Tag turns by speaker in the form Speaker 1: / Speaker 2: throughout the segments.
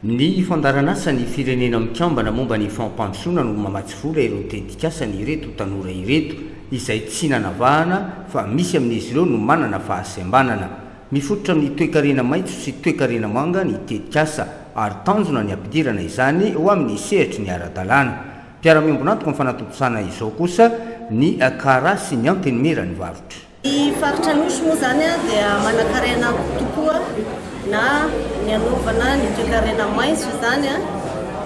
Speaker 1: Ny Fandaharan'asan'ny Firenena Mikambana momba ny Fampandrosoana no mamatsy vola ireo tetikasan'ireto tanora ireto, izay tsy nanavahana fa misy amin'izy ireo no manana fahasembanana. Mifototra amin'ny toekarena maitso sy toekarena manga ny tetikasa ary tanjona ny hampidirana izany ho amin'ny sehatry ny ara-dalàna. Mpiara-miombon'antoka amin'ny fanatontosana izao kosa ny Cara sy ny Antenimieran'ny Varotra. Ny faritra Anosy
Speaker 2: moa izany dia manankarena tokoa na ny hanaovana ny toekarena maitso izany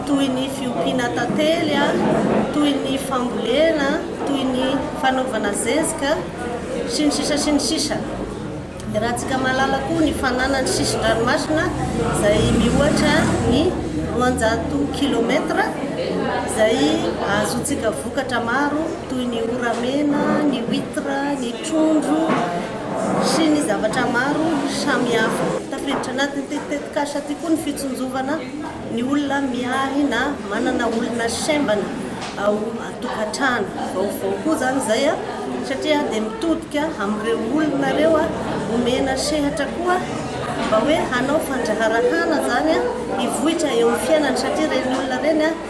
Speaker 2: toy ny fiompiana tantely, toy ny fambolena, toy ny fanaovana zezika sy ny sisa sy ny sisa. Iarahantsika mahalala koa ny fananany sisin-dranomasina izay mihoatra ny roanjato kilomètre izay ahazoantsika vokatra maro. toy ny ora mena, ny huitre, ny trondro sy ny zavatra maro samihafa. Tafiditra anatin'ity tetikasa ity koa ny fitsinjovana ny olona miahy na manana olona sembana ao an-tokantrano. Vaovao koa izany izay satria dia mitodika amin'ireo olona ireo omena sehatra koa mba hoe hanao fandraharahana izany hivoitra eo amin'ny fiainany satria ireny olona ireny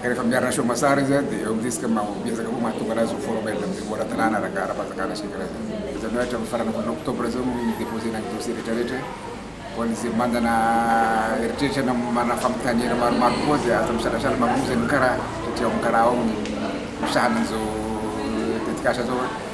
Speaker 3: Ka rehefa miarina show Masar izy dia eo amin'ny risque maha miezaka koa mahatonga anazy ho formel amin'ny niveau ara-dalàna ara ara-panjakana sy ny karazany. Izany hoe hatramin'ny faran'ny volana octobre izao no hi-deposer-na ny dossier rehetra rehetra ho an'izay mandana eritreritra na manana fanontaniana maromaro kokoa dia aza misalasala mamonjy an'i Kara satria ao amin'ny Kara ao no misahana an'izao tetikasa izao.